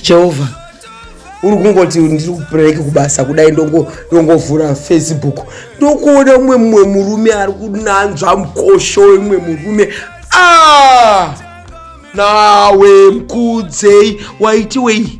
jehovha uri kungoti ndiri kupreke kubasa kudai ndongovhura facebook ndokuona umwe mumwe murume ari kunanzva mukosho imwe murume ah! nawe mkudzei waiti wei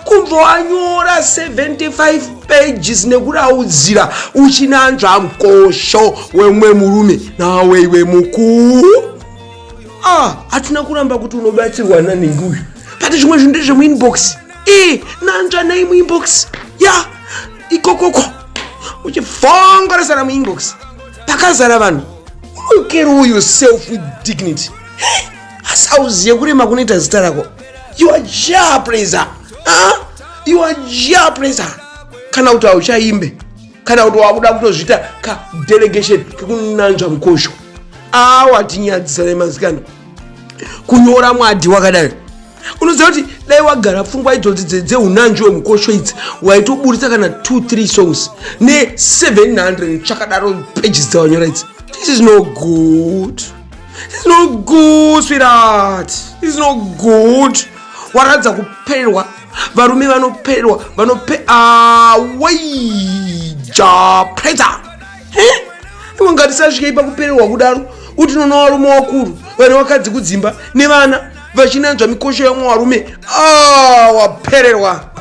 kunzwa wanyora 75 pages nekuraudzira uchinanzva mukosho wemwe murume nawe iwe mukuu ah hatina kuramba kuti unobatsirwa nanhingi uyu but zvimwe zvinhu ndezvemuinbox e eh, nanzva nai muinbox ya yeah. ikokoko uchifongorasana muinbox pakazara vanhu unokerowo yourself with dignity asi auziye kurema kunoita zita rako you are jah praiser huh? you are jah praiser kana kuti hauchaimbe kana kuti wakuda kutozviita kadelegation kekunanzva mukosho awa tinyadzisa nemasikana kunyora mwadhi wakadai unoziva kuti dai wagara pfungwa idzodzi dzeunanzvi wemukosho idzi waitoburitsa kana 23 songs ne700 chakadaro pages dzawanyora idzi this is no good this is no good sweetheart this is no good waratidza kupererwa varume vanoperwa vanope awaija preta imwe ngatisasvike ipa kupererwa kudaro kuti noona varume wakuru vane vakadzi kudzimba nevana vachinanzva mikosho yamwe varume awapererwa ah,